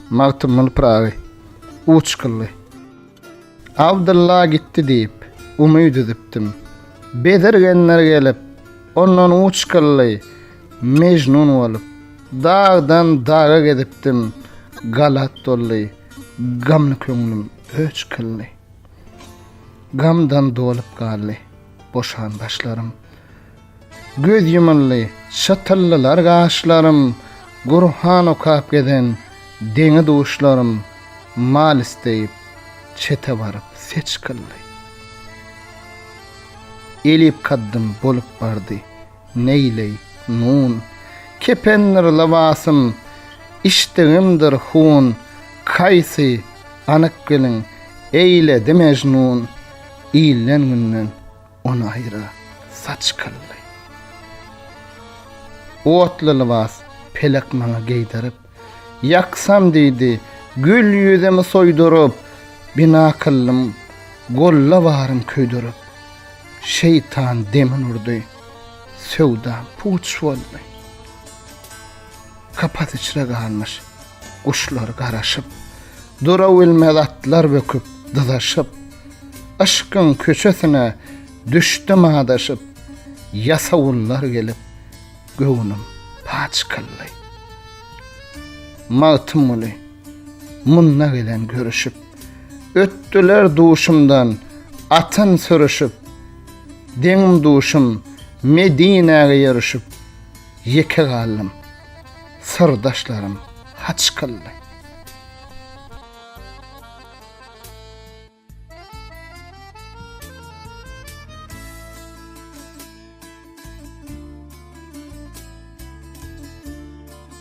Magtymguly Pyragy uç kylly. Abdylla gitdi diýip, umyt üzüpdim. Bezirgenler gelip, ondan uç kylly. Mejnun bolup, dagdan daga gezipdim. Galat doldy, gamly köňlüm öç kylly. Gamdan dolup galdy, boşan başlarym. Göz ýumuldy, çytyldylar gaşlarym, Gurhan okap gezen deňi-duşlarym, Mal isleýip, çete baryp seç kyldy. Elip kaddym bolup bardy, neýleý, nun, Kependir lybasym, içdigimdir hun, Kaýsy, anyk biliň, eýledi Mejnun, Ilden-günden On aýra saç kylly. Otly lybas pelek maňa geýdirip, Ýaksam diýdi, gül ýüzümi soýduryp, Bina kyldym, golla barym köýdürip. Şeýtan demin urdy, söwdam puç boldy. Kapas içre galmyş, Guşlar garaşyp, durabilmez atlar böküp, dyzaşyp, Yşkyň köçesine düşdüm adaşyp, Ýasawullar gelip, göwnüm paç kyldy. Magtymguly, munda gelen görüşip, Ötdüler duşumdan atyn sürüşip, Deňim-duşum Medinäge ýörüşip, Ýeke galdym. Syrdaşlarym haç kyldy.